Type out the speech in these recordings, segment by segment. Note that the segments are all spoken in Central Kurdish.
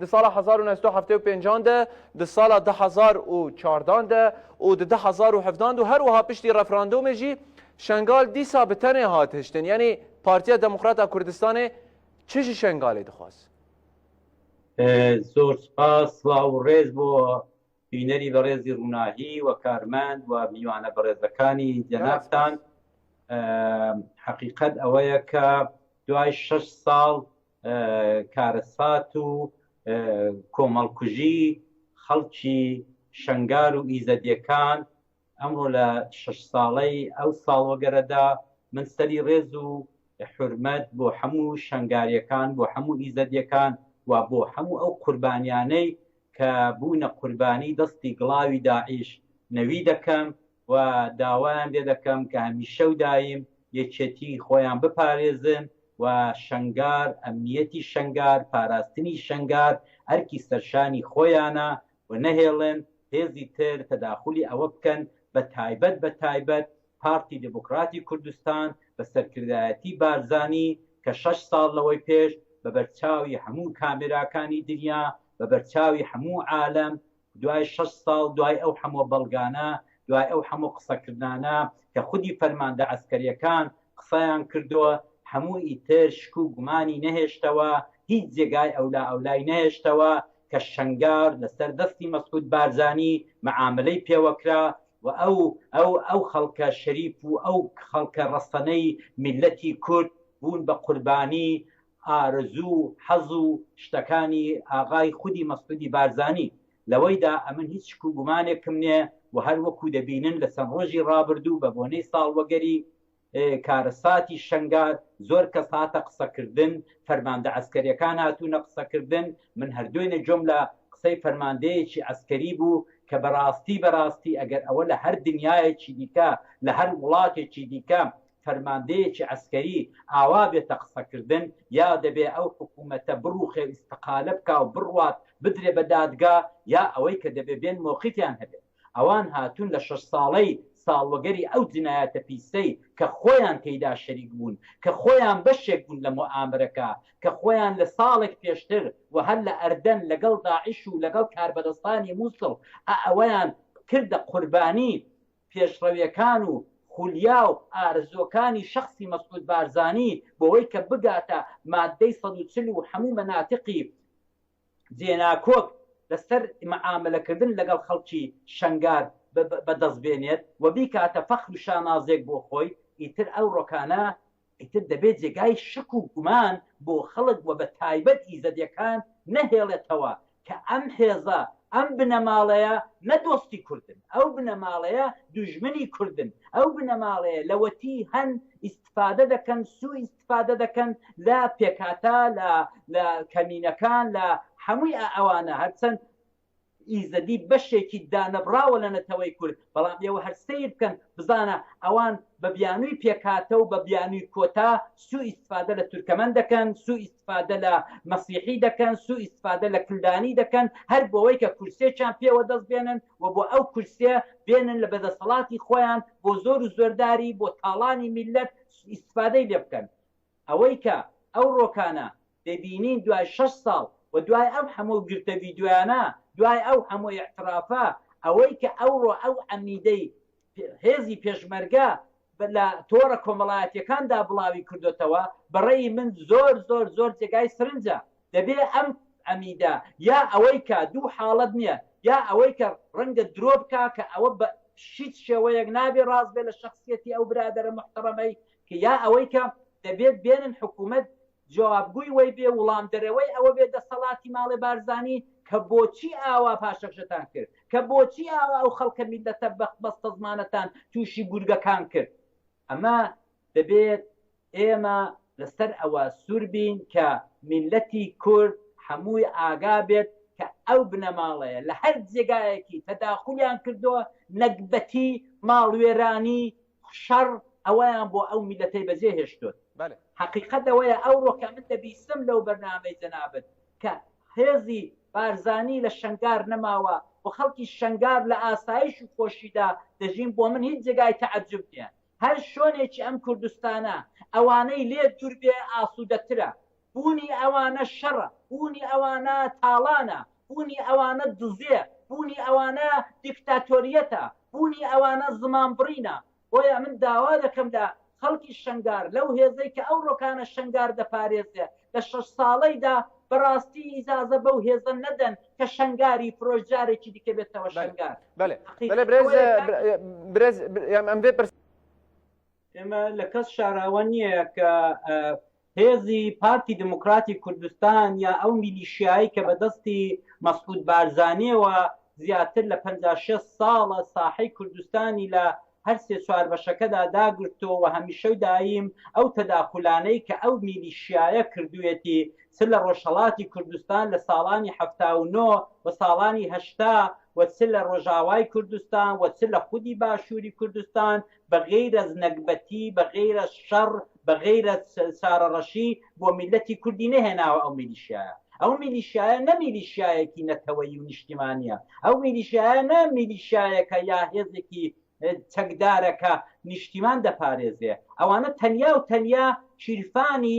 د سالا هەزار و نۆ سەد و حەفتا و پێنج د د سالا دە هەزار و چواردان د و د دە هەزار و هەڤدان د و هەروەها پشتی رەفراندۆمێ ژی شەنگال دیسا بە تەنێ هات هشتن یەنی پارتیا دموکراتا کوردستانێ چ ژ شەنگالێ دخواز؟ زۆر سپاس سڵاو و ڕێز بۆ بینەری بەڕێزی ڕووناهی و کارمەند و میوانە بەڕێزەکانی جەنابتان حەقیقەت ئەوەیە کە دوای شش ساڵ کارەسات و کۆمەڵکوژی خەڵکی شنگار و ئیزەدیەکان ئەمڕۆ لە شش ساڵەی ئەو ساڵۆگەرەدا من سەری ڕێز و حرمەت بۆ هەموو شنگاریەکان بۆ هەموو ئیزەدیەکان و بۆ هەموو ئەو قوربانیانەی کە بوونە قوربانی دەستی گڵاوی داعیش نەوی دەکەم و داوایان لێ دەکەم کە هەمیشە و دایم یەکێتی خۆیان بپارێزن و شەنگار، ئەمنیەتی شەنگار، پاراستنی شەنگار ئەرکی سەرشانی خۆیانە و نەهێڵن هێزی تر تەداخولی ئەوە بکەن، بە تایبەت بە تایبەت پارتی دیموکراتی کوردستان بە سەرکردایەتی بارزانی کە شەش ساڵ لەوەی پێش بە بەرچاوی هەموو کامێراکانی دنیا، بە بەرچاوی هەموو عالەم دوای شەش ساڵ دوای ئەو هەموو بەڵگانە، دوای ئەو هەموو قسەکردنانە کە خودی فەرماندە عەسکەرییەکان قسەیان کردووە، هەموو ئیتر شک و گومانی نەهێشتەوە، هیچ جێگای ئەولائەولای نەهێشتەوە کە شەنگار لەسەر دەستی مەسعود بارزانی مەعامەلەی پێوە کرا و ئەو ئەو خەڵکە شەریف و ئەو خەڵکە ڕەسەنەی میللەتی کورد بوون بە قوربانی ئارەزوو و حەز و شتەکانی ئاغای خودی مەسعودی بارزانی لەوەیدا ئەمن هیچ شک و گومانێکم نێ و هەر وەکوو دەبینن لە چەند ڕۆژی ڕابردوو بە بۆنەی ساڵوەگەری کارەساتی شەنگال زۆر کەس هاتە قسە کردن فەرماندە عەسکەریەکان هاتوونە قسە کردن من هەر دوێنێ جۆم لە قسەی فەرماندەیەکی عەسکەری بوو کە بەڕاستی بەڕاستی ئەگەر ئەوە لە هەر دنیایەکی دیکە لە هەر وڵاتێکی دیکە فەرماندەیەکی عەسکەری ئاوا بێتە قسەکردن یا دەبێ ئەو حکوومەتە بڕووخێ و ئیستقالە بکا و بڕوات بدرێ بە دادگا یا ئەوەی کە دەبێ بێن مۆقیفیان هەبێ. ئەوان هاتوون لە شەش ساڵەی ساڵوەگەری ئەو جنایەتە پیسەی کە خۆیان تێیدا شەریک بوون، کە خۆیان بەشێک بوون لە موئامەرەکە، کە خۆیان لە ساڵێک پێشتر و هەر لە ئەردەن لەگەڵ داعش و لەگەڵ کاربەدەستانی مووسڵ ئەوەیان کردە قوربانی پێشڕەوێکان و خولیا و ئارەزووەکانی شەخسی مەسعود بارزانی بۆوەی کە بگاتە ماددەی سەد و چل و هەموو مەناتقی جێناکۆک لە سەر مەعامەلە کردن لە گەڵ خەڵکی شەنگال بە دەست بێنێت و بیکاتە فەخر و شانازێک بۆ خۆی ئیتر ئەو ڕۆکانە ئیتر دەبێ جێگای شک و گومان بۆ خەڵک و بە تایبەت ئیزەدیەکان نەهێڵێتەوە کە ئەم حێزە، ئەم بنەماڵەیە نە دۆستی کوردن، ئەو بنەماڵەیە دوژمنی کوردن، ئەو بنەماڵەیە لەوەتی هەن ئیستفادە دەکەن، سوو ئیستفادە دەکەن لە پێکهاتە، لە کەمینەکان، لە هەمووی ئەوانە هەرچەند ئیزەدی بەشێکی دانەبڕاوە لە نەتەوەی کورد، بەڵام ئێوە هەر سەیر بکەن بزانە ئەوان بە بیانووی پێکهاتە و بە بیانووی کۆتا سوو ئیستفادە لە تورکەمەن دەکەن، سوو ئیستفادە لە مەسیحی دەکەن، سوو ئیستفادە لە کلدانی دەکەن، هەر بۆوەی کە کورسیەکیان پێ وەدەست بێنن و بۆ ئەو کورسیە بێنن لە بەدەسەڵاتی خۆیان بۆ زۆر و زۆرداری بۆ تاڵانی میللەت ئیستفادەی لێ بکەن. ئەوەی کە ئەو ڕۆکانە دەبینین دوای شەش ساڵ و دوای ئەو هەموو گرتە ڤیدیۆیانە، دوای ئەو هەموو ئیعترافە، ئەوەی کە ئەوڕۆ ئەو عەمیدەی هێزی پێشمەرگە لە تۆڕە کۆمەڵایەتیەکاندا بڵاوی کردۆتەوە، بەڕەئی من زۆر زۆر زۆر جێگای سرنجە. دەبێ ئەم عەمیدە یا ئەوەی کە دوو حاڵەت نیە یا ئەوەی کە ڕەنگە درۆ بکا کە ئەوە بە هیچ شێوەیەک نابێ ڕاست بێ لە شەخسیەتی ئەو برادەرە موحتەڕەمەی کە یا ئەوەی کە دەبێت بێنن حکوومەت جوابگۆی وەی بێ وڵام دەرەوەی ئەوە بێ دەسەڵاتی ماڵێ بارزانی کە بۆچی ئاوا پاشەکشەتان کرد کە بۆچی ئاوا ئەو خەڵکە میللەتە بەخت بەستەزمانەتان تووشی گورگەکان کرد ئەمە دەبێت ئێمە لەسەر ئەوە سوور بین کە میللەتی کورد هەمووی ئاگا بێت کە ئەو بنەماڵەیە لە هەر جێگایەکی تەداخولیان کردووە نەگبەتی ماڵوێرانی شەڕ ئەوەیان بۆ ئەو میلەتەی بەجێ هێشتۆت. هەقیقەت ئەوەیە ئەوڕۆ کە من دەبیسم لەو بەرنامەی جەنابت کە هێزی بارزانی لە شەنگار نەماوە و خەڵکی شەنگار لە ئاسایش و خۆشیدا دەژین بۆ من هیچ جێگای تەعەجوب نیە هەر شۆنێکی ئەم کوردستانە ئەوانەی لێ دوور بێ ئاسودەترە بوونی ئەوانە شەڕە، بوونی ئەوانە تاڵانە، بوونی ئەوانە دزێ، بوونی ئەوانە دیکتاتۆریەتە، بوونی ئەوانە زمانبڕینە، بۆیە من داوا دەکەم لە خەڵکی شەنگار، لەو هێزەی کە ئەو ڕۆکانە شەنگار دەپارێزێ لە شەش ساڵەیدا بەڕاستی ئیجازە بەو هێزە نەدەن کە شەنگاری فرۆشت جارێکی دیکە بێتەوە شەنگار. بەلێ بەلێ برێز برێز ئەم بێ پرس. ئێمە لە کەس شاراوە نییە کە هێزی پارتی دموکراتی کوردستان یا ئەو میلیشیایی کە بەدەستی مەسعود بارزانیەوە زیاتر لە 56 ساڵە ساحەی کوردستانی لە هەر سێ چوار بەشەکەدا داگرتۆوە هەمیشەو دایم ئەو تەداخولانەی کە ئەو میلیشیایە کردوێتی چ لە ڕۆژهڵاتی کوردستان لە ساڵانی هەفتا و نۆ و ساڵانی هەشتا وەچ لە ڕۆژاوای کوردستان وەچ لە خودی باشووری کوردستان بە غەیر از نەگبەتی بە غەیر از شەڕ بە غەیر از سارە ڕەشی بۆ میللەتی کوردی نەهێناوە ئەو میلیشیایە ئەو میلیشیایە نە میلیشیایەکی نەتەوەیی و نیشتیمانیە ئەو میلیشیایە نە میلیشیایەکە یا هێزێکی چەکدارە کە نیشتیمان دەپارێزێ ئەوانە تەنیا و تەنیا شیرفانی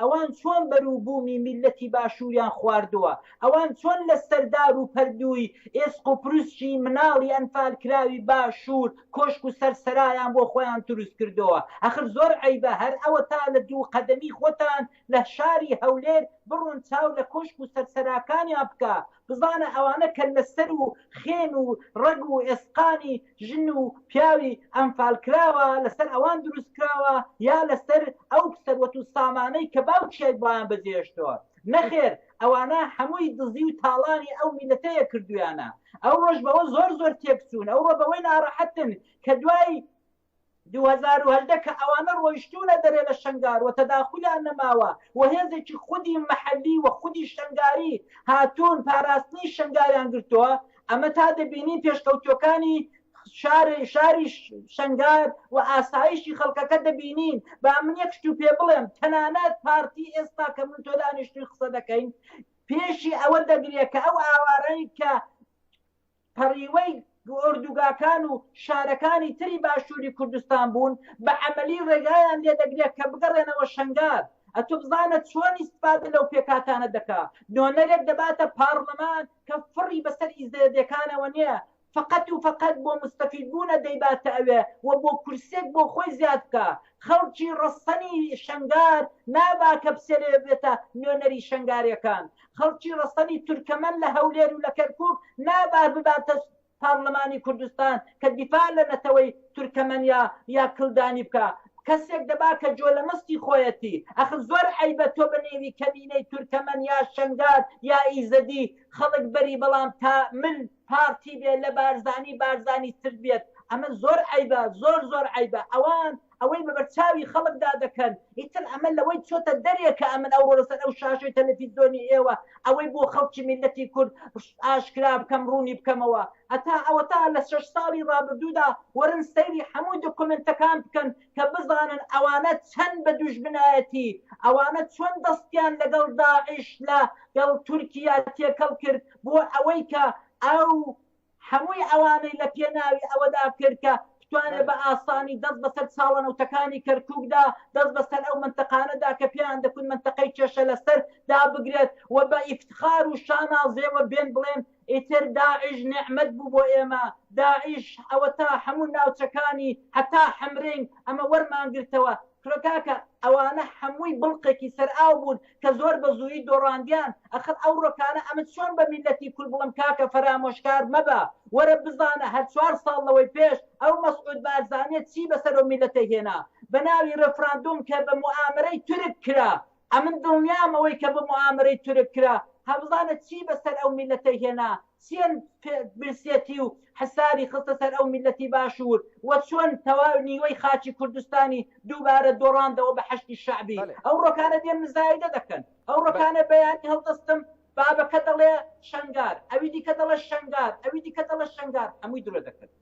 ئەوان چۆن بەرو بوومی میللەتی باشووریان خواردووە، ئەوان چۆن لە سەردار و پەردووی ئێسق و پروسکی مناڵی ئەنفال کراوی باشوور کۆشک و سەر سەرایان بۆ خۆیان دروست کردۆە، ئەخر زۆر عەیبە هەر ئەوەتا لە دوو قەدەمی خۆتان لە شاری هەولێر بڕۆن چاو لە کۆشک و سەر سەراکانیان بکە بزانە ئەوانە کەللەسەر و خێن و ڕەگ و ئێسقانی ژن و پیاوی ئەنفال کراوە لەسەر ئەوان دروست کراوە یا لەسەر ئەو سەروەت و سامانەی کە باوکیای بۆیان بەجێهێشتەوە نەخێر ئەوانە هەمووی دزی و تاڵانی ئەو میلەتەیە کردویانە ئەوڕۆش بەوە زۆر زۆر تێکچوون ئەوڕۆ بەوەی ناڕەحەتن کە دوای دوو هەزار و هەژدە کە ئەوانە ڕۆیشتوونە دەرێ لە شەنگار و تەداخولیان نەماوە و هێزێکی خودی مەحەلی و خودی شەنگاری هاتوون پاراستنی شەنگاریان گرتووە، ئەمە تا دەبینین پێشکەوتووەکانی شاری شەنگار و ئاسایشی خەڵکەکە دەبینین، با من یەک شت و پێ بڵێم تەنانەت پارتی ئێستا کە من تۆ دانیشتووین قسە دەکەین پێشی ئەوە دەگرێ کە ئەو ئاوارەی کە پەڕیوەی ئۆردوگاکان و شارەکانی تری باشووری کوردستان بوون بە عەمەلی ڕێگایان لێ دەگرێ کە بگەڕێنەوە شەنگال ئەتو بزانە چۆن ئیستفادە لەو پێکهاتانە دەکا نۆنەرێک دەباتە پاڕلمان کە فڕی بەسەر ئیزەیەدەکانەوە نییە فقط و فقط بۆ مستەفید بوونە دەیباتە ئەوێ و بۆ کورسێک بۆ خۆی زیاد بکا خەڵکی ڕەسەنی شەنگار نابا کە بسێلێ بێتە نۆنەری شەنگارێکان خەڵکی ڕەسەنی تورکەمەن لە هەولێر و لە کەرکوک نابا بباتە پارلمانی کوردستان کە دیفاع لە نەتەوەی تورکەمەنیا یا کلدانی بکا کەسێک دەبا کە جۆ لە مستی خۆیەتی ئەخ زۆر عەیبە تۆ بە نێوی کەمینەی تورکەمەن یا شەنگال یا ئیزەدی خەڵک بەری بەڵام تا مل پارتی بێ لە بارزانی بارزانی تر بێت ئەمە زۆر عەیبە زۆر زۆر عەیبە ئەوان ئەوەی بەبەرچاوی خەڵکدا دەکەن ئیتر ئەمە لەوەی چۆتە دەرێ کە ئەمن ئەوڕۆ لەسەر ئەو شاشەی تەلەفیزۆنی ئێوە ئەوەی بۆ خەڵکی میللەتی کورد ئاشکرا بکەم ڕوونی بکەمەوە هەتا ئەوەتا لە شەش ساڵی ڕابردوودا وەرن سەیری هەموو دۆکۆمێنتەکان بکەن کە بزانن ئەوانە چەند بە دوژمنایەتی ئەوانە چۆن دەستیان لەگەڵ داعش لە گەڵ تورکیا تێکەڵ کرد بۆ ئەوەی کە ئەو هەمووی ئەوانەی لە پێناوی ئەوەدا کرد کە بتوانێت بە ئاسانی دەست بەسەر چاڵەنەوتەکانی کەرکوکدا، دەست بەسەر ئەو مەنتەقانەدا کە پێیان دەکوت مەنتەقەی کێشە لەسەر، دا بگرێت و بە ئیفتخار و شانازیەوە بێن بڵێن ئیتر داعش نیعمەت بوو بۆ ئێمە، داعش ئەوەتا هەموو ناوچەکانی هەتا حەمرین ئەمە وەرمانگرتەوە. کرا کاکە ئەوانە حەمووی بڵقێکی سەر ئاو بوون کە زۆر بە زوویی دۆڕاندیان ئەخر ئەو ڕۆکانە ئەمن چۆن بە میلەتی کورد بڵێم کاکە فەرامۆشکار مەبە وەرە بزانە هەر چوار ساڵ لەوەی پێش ئەو مەسعود بارزانیە چی بەسەر ئەو میلەتەی هێنا بە ناوی ڕێفراندۆم کە بە موئامەرەی تورک کرا ئەمن دڵنیام ئەوەی کە بە موئامەرەی تورک کرا هەبزانە چی بە سەر ئەو میللەتەی هێنا چێن برسیەتی و حسابی خستە سەر ئەو میللەتی باشوور وە چۆن تەواوی نیوەی خاکی کوردستانی دووبارە دۆڕاندەوە بە حەشدی شەعبی ئەو ڕۆکانە دێن مزایدە دەکەن ئەو ڕۆکانە بەیانی هەڵدەستم بابەکە دەڵێ شەنگار ئەوی دیکە دەڵێ شەنگار ئەوی دیکە دەڵێ شەنگار هەمووی درۆ دەکەن.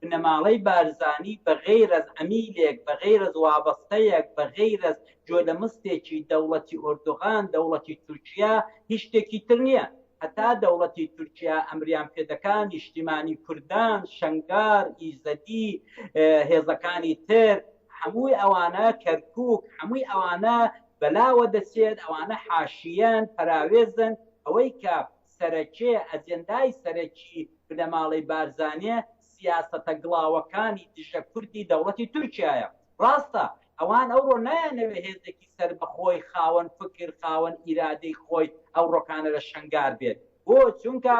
بنەماڵەی بارزانی بە غەیر از عەمیلێک، بە غەیر از وابەستەیەک، بە غەیر از جۆلەمستێکی دەوڵەتی ئۆردوغان، دەوڵەتی تورکیا، هیچ شتێکی تر نیە. هەتا دەوڵەتی تورکیا ئەمریان پێ دەکا نیشتیمانی کوردان، شەنگال، ئیزەدی، هێزەکانی تر، هەمووی ئەوانە، کەرکوک، هەمووی ئەوانە بەلاوە دەچێت، ئەوانە حاشیەن، پەراوێزن، ئەوەی کە سەرەکێ، ئەجێندای سەرەکی بنەماڵەی بارزانێ سیاسەتە گڵاوەکانی دژە کوردی دەوڵەتی تورکیایە. ڕاستە ئەوان ئەوڕۆ نایانەوێ هێزێکی سەربەخۆی خاوەن فکر، خاوەن ئیرادەی خۆی ئەوڕۆکانە لە شەنگار بێت. بۆ؟ چونکە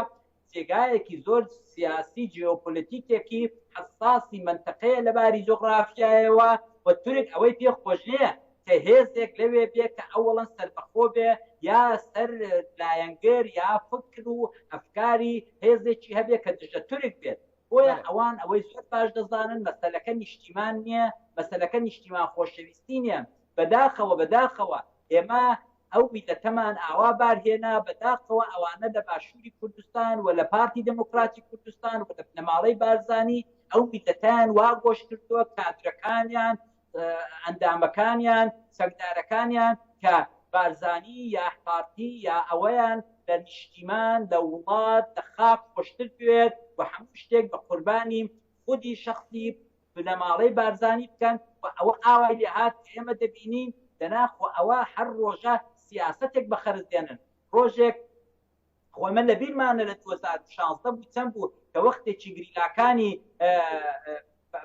جێگایەکی زۆر سیاسی جیۆپۆلەتیکێکی حەساسی مەنتەقەیە لە باری جوغڕافیایەوە و تورک ئەوەی پێ خۆش نیە کە هێزێک لەوێ بێ کە ئەوەڵەن سەربەخۆ بێ یا سەر لایەنگر یا فکر و ئەفکاری هێزێکی هەبێ کە دژە تورک بێت بۆیە ئەوان ئەوەی زۆر باش دەزانن مەسەلەکە نیشتیمان نییە مەسەلەکە نیشتیمان خۆشەویستی نیە بەداخەوە بەداخەوە ئێمە ئەو میلەتەمان ئاوا بارهێنا بەداخەوە ئەوانە لە باشووری کوردستان و لە پارتی دموکراتی کوردستان و لە بنەماڵەی بارزانانی ئەو میلەتیان وا گۆش کردووە کادرەکانیان ئەندامەکانیان چەکدارەکانیان کە بارزانی یا پارتی یا ئەوەیان لە نیشتیمان لە وڵات لە خاک خۆشتر بوێت و هەموو شتێک بە قوربانی خودی شخصی بنەماڵەی بارزانی بکەن و ئەوە ئاوای لێهات ئێمە دەبینین دەناخۆ ئەوە هەر ڕۆژە سیاستێک بە خەرز دێنن ڕۆژێک خۆ ئێمە لە بیرمانە لە دوو هەزار و شازدە بوو چەند بوو کە وەختێکی گریلاکانی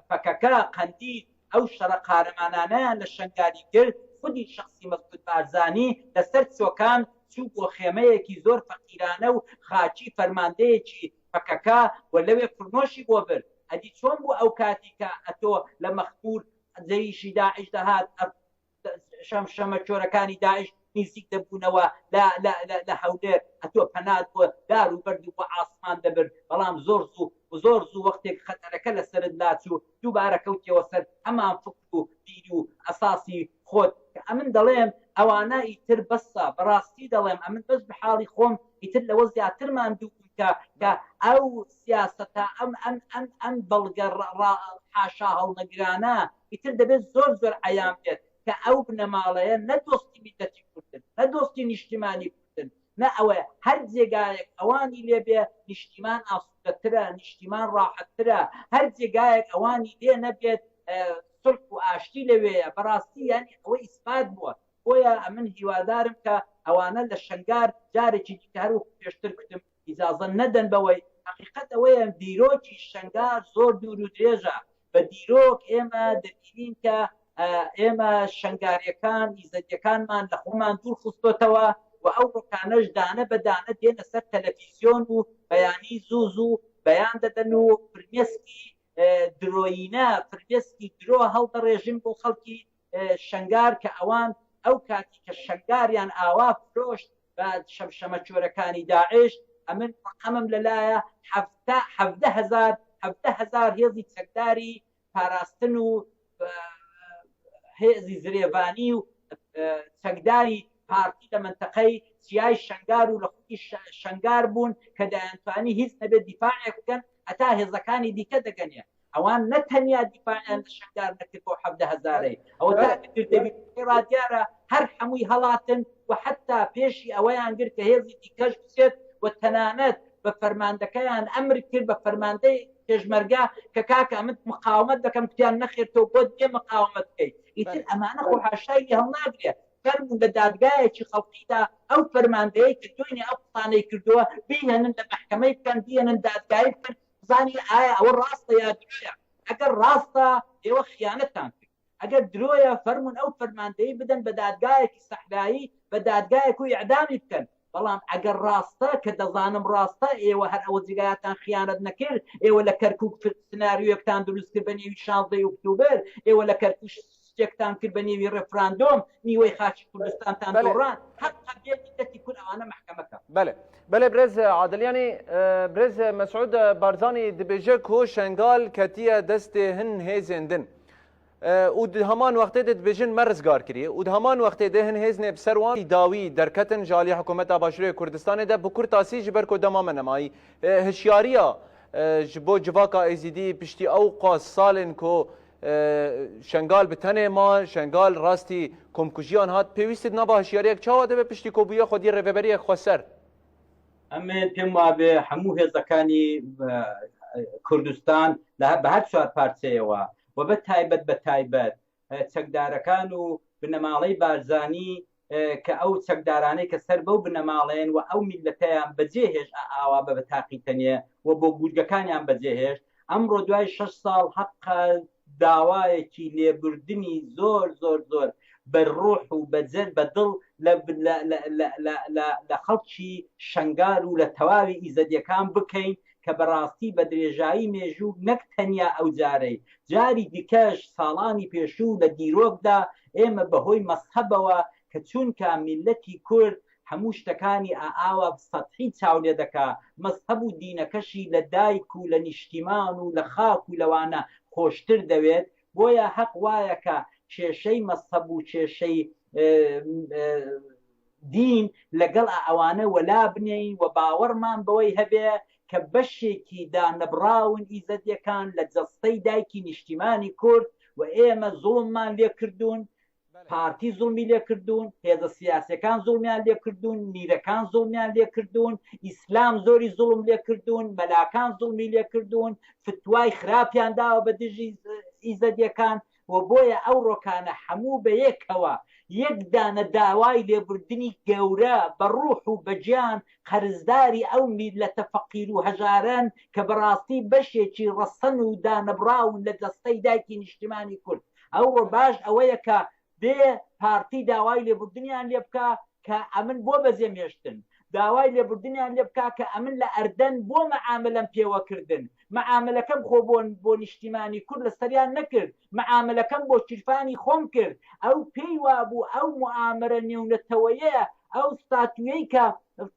پەکەکە قەندی ئەو شەڕە قارەمانانەیان لە شنگالی کرد خودی شخصی مەسعود بارزانی لەسەر چۆکان چوو بۆ خێمەیەکی زۆر فەقیرانە و خاچی فەرماندەیەکی پەکەکە و لەوێ فرنۆشی بۆ برد ئەدی چۆن بوو ئەو کاتی کە ئەتۆ لە مەخمور جەیشی داعش دەهات شەم شەمە چۆرەکانی داعش نزیک دەبوونەوە لە هەولێر ئەتۆ پەنات بۆ دار و بەرد و بۆ ئاسمان دەبرد بەڵام زۆر زوو زۆر زوو وەختێک خەتەرەکە لە سرت لاچوو دووبارە کەوتیەوە سەر هەمان فکر و بیر و ئەساسی خۆت کە ئەمن دەڵێم ئەوانە ئیتر بەسە بەڕاستی دەڵێم ئەمن بەس بە حاڵی خۆم ئیتر لەوە زیاتر ماندوو بووم کە کە ئەو سیاسەتە ئەم ئەم ئەم ئەم بەڵگە حاشا هەڵنەگرانە ئیتر دەبێت زۆر زۆر عەیان بێت کە ئەو بنەماڵەیە نە دۆستی میللەتی کوردن، نە دۆستی نیشتیمانی کوردن، نە ئەوەیە هەر جێگایەک ئەوانی لێ بێ نیشتیمان ئاسوودەترە، نیشتیمان ڕاحەتترە، هەر جێگایەک ئەوانی لێ نەبێت سوڵح و ئاشتی لەوێیە، بەڕاستی یانی ئەوە ئیسپات بووە، بۆیە ئەمن هیوادارم کە ئەوانە لە شەنگار جارێکی دیکە هەر وەکو پێشتر کوتم، ئیجازە نەدەن بەوەی هەقیقەت ئەوەیە دیرۆکی شەنگار زۆر دوور و درێژە بە دیرۆک ئێمە دەبینین کە ئێمە شنگاریەکان ئیزەدیەکانمان لە خۆمان دوور خستۆتەوە و ئەو ڕکانەش دانە بەدانە دێنە سەر تەلەفیزیۆن و بەیانی زوو زوو بەیان دەدەن و فرمێسکی درۆینە فرمێسکی درۆ هەڵدەڕێژن بۆ خەڵکی شەنگار کە ئەوان ئەو کاتی کە شەنگاریان ئاوا فرۆشت بە شەمشەمەکۆرەکانی داعش ئەمن ڕەقەمم لە لایە حەفتا حەڤدە هەزار حەڤدە هەزار هێزی چەکداری پاراستن و هێزی زرێڤانی و چەکداری پارتی لە منتەقەی چیای شەنگار و لە خودی شەنگار بوون کە دەیانتوانی هیچ نەبێت دیفاعێک بکەن هەتا هێزەکانی دیکە دەگەنێ ئەوان نە تەنیا دیفاعیان لە شەنگار نەکرد بۆ حەڤدە هەزارەی ئەوە تاکە کردەوی ئێرا دیارە هەر حەمووی هەڵاتن و حەتا پێشی ئەوەیان گرت کە هێزی دیکەش بچێت و تەنانەت بە فەرماندەکەیان ئەمر کرد بە فەرماندەی پێشمەرگە کە کاکە ئەمن مقاومەت دەکەم گوتیان نەخێر تۆ بۆت بێ مقاومەت بکەیت ئیتر ئەمانە خۆ حاشای لێ هەڵناگرێت فەرموون لە دادگایەکی خەڵقیدا ئەو فەرماندەیە کە دوێنێ ئەو قسانەی کردووە بیهێنن لە مەحکەمەی بکەن بیهێنن دادگایی بکەن بزانین ئایا ئەوە ڕاستە یا درۆیە، ئەگەر ڕاستە ئێوە خیانەتتان کرد، ئەگەر درۆیە فەرموون ئەو فەرماندەی بدەن بە دادگایەکی سەحرایی بە دادگایەک و ئیعدامی بکەن، بەڵام ئەگەر ڕاستە کە دەزانم ڕاستە ئێوە هەر ئەوە جگایەتان خیانەت نەکرد، ئێوە لە کەرکوک سناریۆیەکتان دروست کرد بە نێوی شانزدە ی ئوکتوبر ئێوە لە کەرکوک شتێکتان کرد بە نێوی ڕێفراندۆم نیوەی خاکی کوردستانتان دۆڕان هەق هەبێت میللەتی کورد ئەوانە مەحکەمە کە. بەلێ بەلێ برێز عادل یانی برێز مەسعود بارزانی دبێژە کۆ شەنگال کەتیە دەستێ هن هێزێن دن و هەمان وەختێ دبێژن مە رزگار کری و هەمان وەختێ دێ هن هێزنێ بسەر وان داوی دەرکەتن ژالی حکوومەتا باشوورێ کوردستانێ دە بکور تاسی ji ber ku dema me nemayî hişyariya ji bo civaka êzîdî piştî ew qas salên ku شەنگال بتەنێ ما شەنگال ڕاستی کۆمکوژیان هات پێویستت نابا هشیارەیەک چاوە دەبێت پشتی کۆبووە خۆدی ڕێبەریەک خۆسەر ئەمێ پێم وابێ هەموو هێزەکانی کوردستان لە بە هەر چوار پارچەیەوە و بە تایبەت بە تایبەت چەکدارەکان و بنەماڵەی بارزانی کە ئەو چەکدارانەی کە سەر بەو بنەماڵەیەن و ئەو میللەتەیان بەجێهێشت ئاوا بە تاقی تەنێ و بۆ گورگەکانیان بەجێهێشت، ئەمڕۆ دوای شەش ساڵ هەقە داوایەکی لێبوردنی زۆر زۆر زۆر بە روح و بە جەر بە دڵ لە خەڵکی شەنگال و لە تەواوی ئیزەدیەکان بکەین کە بەراستی بە درێژایی مێژوو نەک تەنیا ئەوجارەی جاری دیکەش ساڵانی پێشوو لە دیرۆکدا ئێمە بە هۆی مەزهەبەوە کە چوونکە میللەتی کورد هەموو شتەکانی ئا ئاوا سەتحی چاو لێ دەکا مەزهەب و دینەکەشی لە دایک و لە نیشتیمان و لە خاک و لەوانە خۆشتر دەوێت بۆیە هەق وایە کە کێشەی مەزهەب و کێشەی دین لەگەڵ ئە ئەوانە وەلا بنێین وە باوەڕمان بەوەی هەبێ کە بەشێکی دانەبڕاون ئیزەدیەکان لە جەستەی دایکی نیشتیمانی کورد وە ئێمە زوڵممان لێ کردوون پارتی زوڵمی لێ کردوون هێزە سیاسەکان زوڵمیان لێ کردوون میرەکان زوڵمیان لێ کردوون ئیسلام زۆری زوڵم لێ کردوون مەلاکان زوڵمی لێ کردوون فتوای خراپیان داوە بە دژی ئیزەدیەکان و بۆیە ئەو ڕۆکانە حەموو بە یەکەوە یەک دانە داوای لێبوردنی گەورە بە ڕوح و بە گیان قەرزداری ئەو میللەتە فەقیر و هەژارەن کە بە ڕاستی بەشێکی ڕەسەن و دانەبڕاون لە جەستەی دایکی نیشتیمانی کورد ئەوڕۆ باش ئەوەیە کە بێ پارتی داوای لێبوردنیان لێ بکا کە ئەمن بۆ بەجێم هێشتن داوای لێبوردنیان لێ بکا کە ئەمن لە ئەردەن بۆ مەعامەلەم پێوە کردن معامەلەکەم خۆ بۆ بۆ نیشتیمانی کورد لەسەریان نەکرد معامەلەکەم بۆ چرپانی خۆم کرد ئەو پێی وابوو ئەو موعامەرە نێونەتەوەیەیە ئەو ستاتویەی کە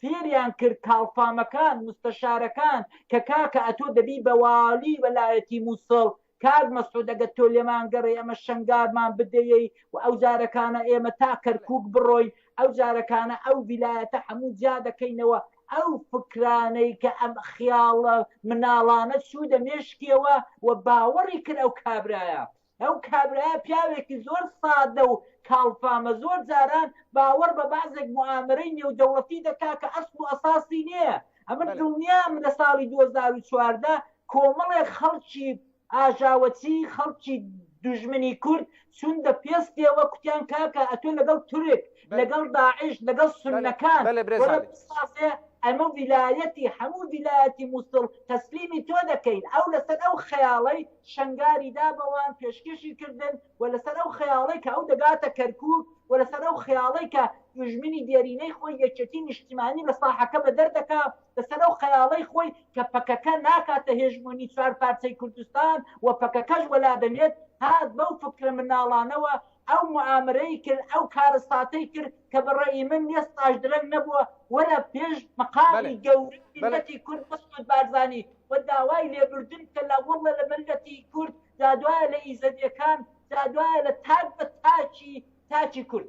فێریان کرد کاڵفامەکان مستەشارەکان کە کاکە ئەتۆ دەبی بە والی وەلایەتی موسڵ کاک مەسعود ئەگەر تۆ لێمان گەڕێی ئەمە شەنگارمان بدەیەی و ئەو جارەکانە ئێمە تا کەرکوک بڕۆین ئەو جارەکانە ئەو ڤیلایەتە هەموو جیا دەکەینەوە ئەو فکرانەی کە ئەم خیاڵە مناڵانە چوودە مێشکیەوە و باوەڕی کرد ئەو کابرایە. ئەو کابرایە پیاوێکی زۆر سادە و کاڵفامە، زۆر جاران باوەڕ بە بەعزێک موئامەرەی نێودەوڵەتی دەکا کە ئەسڵ و ئەساسی نییە. ئەمن دڵنیام لە ساڵی دوو هەزار و چواردە کۆمەڵێک خەڵکی ئاژاوەچی خەڵکی دوژمنی کورد چون بە پێستێوە کوتیان کاکە ئەتۆ لەگەڵ تورک لەگەڵ داعش لەگەڵ سونەکان وەرە بسازێ ئەمە ویلایەتی هەموو ویلایەتی موسڵ تەسلیمی تۆ دەکەین ئەو لەسەر ئەو خەیاڵەی شەنگاری دا بەوان پێشکێشی کردن و لەسەر ئەو خەیاڵەی کە ئەو دەگاتە کەرکوک و لەسەر ئەو خەیاڵەی کە دوژمنی دێرینەی خۆی یەکێتی نیشتیمانی لە ساحەکە بەدەر دەکا لەسەر ئەو خەیاڵەی خۆی کە پەکەکە ناکاتە هێژمۆنی چوار پارچەی کوردستان و پەکەکەش وەلا دەنێت، هات بەو فکرە مناڵانەوە ئەو موئامرەی کرد، ئەو کارەساتەی کرد کە بە ڕەئی من لێستاش درەنگ نەبووە، وەرە پێش مەقامی گەورەی میللەتی کورد مەسعود بارزانی و داوای لێبوردن کە لە واللە لە مەللەتی کورد جادوایە لە ئیزەدیەکان جادوایە لە تاک بە تاکی تاکی کورد.